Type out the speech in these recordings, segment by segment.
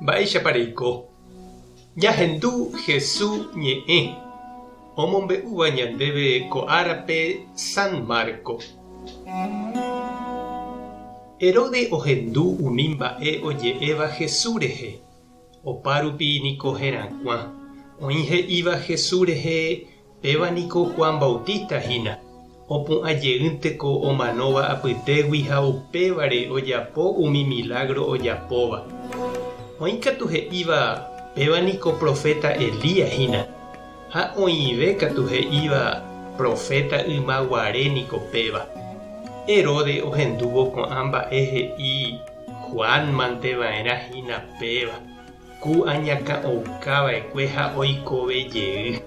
Mba'éichapa reiko jahendu Hesu ñe'ẽ omombe'úva ñandéve ko árape San Marco. Herode ohendu umi mba'e oje'éva Hesu rehe, opárupi niko herakuã oĩ he'íva Hesu rehe Péva niko Juan Bautista hína, opu'ã jeýnte ko omanóva apytégui ha upévare ojapo umi milágro ojapóva. Oĩ katu he'íva péva niko proféta Elías hína, ha oĩve katu he'íva proféta yma guare niko péva. Herodes ohendúvo ko'ã mba'e he'i Juan mante va'erã hína péva. Ku añakã'oukava'ekue ha oikove jey.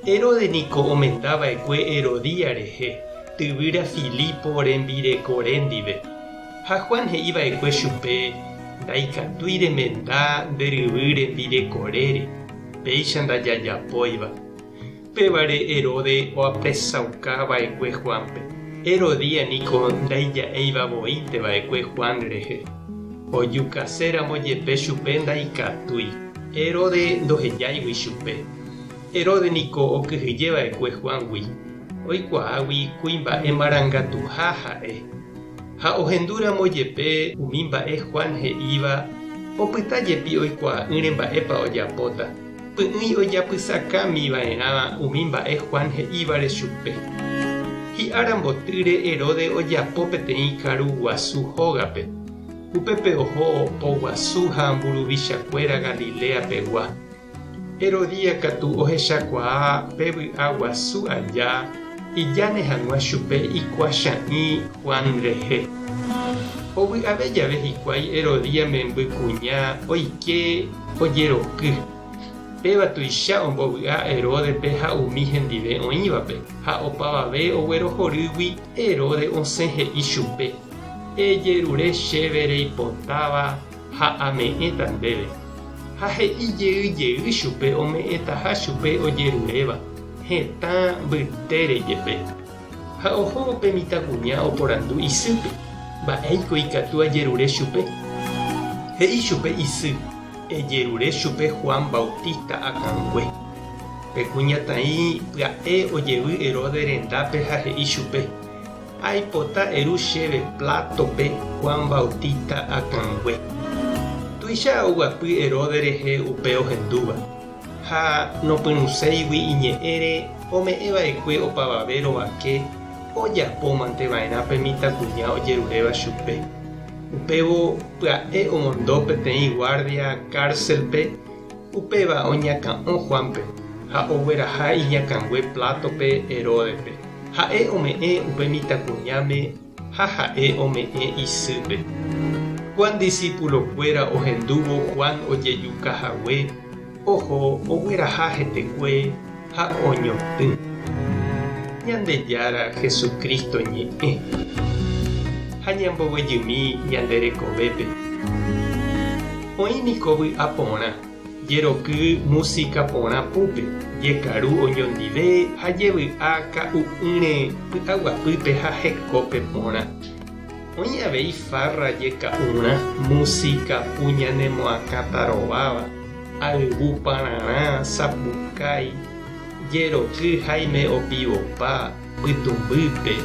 Herodes niko omendava'ekue Herodía rehe, tyvýra Filipo rembirekore ndive. Ha Juan he'iva'ekue chupe, Ndaikatúi remenda nde ryvy rembirekorére, péicha ndajajapóiva. Upévare Herode oapresauka va'ekue Juánpe. Herodía niko ndaija'éiva voínte va'ekue Juan rehe. Ojukaséramo jepe chupe ndaikatúi. Herode ndohejáigui chupe. Herode niko okyhyje va'ekue Juángui. Oikuaágui kuimba'e marangatuha ha'e. Ha ohendúramo jepe umi mba'e Juan he'íva, opyta jepi oikuaa'ỹre mba'épa ojapóta. Py'ỹi ojapysakámi va'erã umi mba'e Juan he'ívare chupe. Hi'ára mbotýre Herodes ojapo peteĩ karu guasu hógape, upépe oho po guasu ha mburuvichakuéra Galilea pegua. Herodía katu ohechakuaa pe vy'a guasu aja ijane hag̃ua chupe ikuacha'ỹ Juan rehe. Ovy'ave jave hikuái Herodía memby kuña oike, ojeroky. Péva tuicha ombovy'a Heródepe ha umi hendive oĩvape, ha opavave oguerohorýgui Heróde osẽ he'i chupe, Ejerure chéve reipotáva ha ame'ẽta ndéve. Ha he'i jey jey chupe ome'ẽtaha chupe ojeruréva, hetã mbytére jepe. Ha ohóvo pe mitãkuña oporandu isýpe, Mba'éiko ikatu ajerure chupe? He'i chupe isy, Ejerure chupe Juan Bautista akãngue. Pe kuñataĩ pya'e ojevy Herodes rendápe ha he'i chupe, Aipota eru chéve plátope Juan Bautista akãngue. Tuicha oguapy Herodes rehe upe ohendúva. ha nopyrũséigui iñe'ẽre ome'ẽva'ekue opavave rovake ojapómanteva'erã pe mitãkuña ojeruréva chupe. Upévo pya'e omondo peteĩ guardia kárselpe, upéva oñakã'o Juánpe ha ogueraha iñakãngue plátope Heródepe. Ha'e ome'ẽ upe mitãkuñáme Ha ha'e ome'ẽ isýpe. Juan disípulokuéra ohendúvo Juan ojejuka hague, oho ogueraha hetekue ha oñotỹ. Ñandejára Jesucristo ñe'ẽ. Ha ñamboguejymi ñande rekovépe. Oĩ niko vy'a porã. Jeroky músika porã púpe, jekaru oñondive ha jevy'a ka'u'ỹre py'aguapýpe ha hekópe porã. Oĩ avei farra jeka'urã, músika pu ñanemoakãta rováva, ayvu pararã, sapukái, jeroky haime opivopa, pytũmbýpe,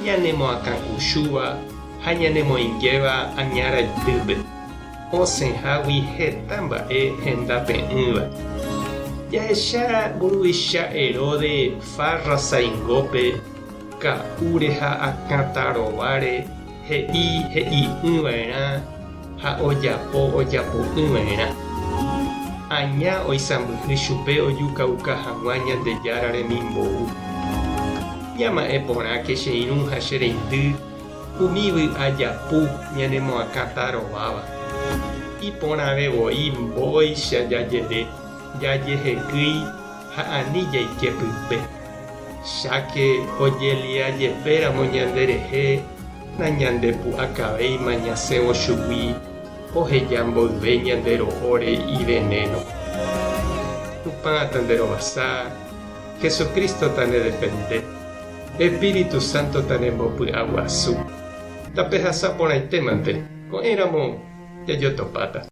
ñanemoakãkuchúva ha ñanemoingéva aña raitýpe, osẽhágui heta mba'e henda pe'ỹva. Jahecha mburuvicha Heróde farra saingópe, ka'úre ha akãta rováre he'i he'i'ỹva'erã, ha ojapo ojapo'ỹva'erã. Aña oisãmbyhy chupe ojukauka hag̃ua Ñandejára remimbou. Ñama'ẽ porãke che irũ ha che reindy umi vy'a japu ñanemoakãta rováva. Iporãve voi mbóicha jajere jajehekýi ha ani jaike pype. Cháke ojeliajepéramo ñanderehe, Nañandepu'akavéima ñasẽvo chugui oheja mboyve ñande ro'óre ivenéno. Tupã tanderovasa, Jesucristo tanedepende, Espíritu Santo tanembopy'aguasu. Tapehasa porãitémante, ko'ẽramo jajotopáta.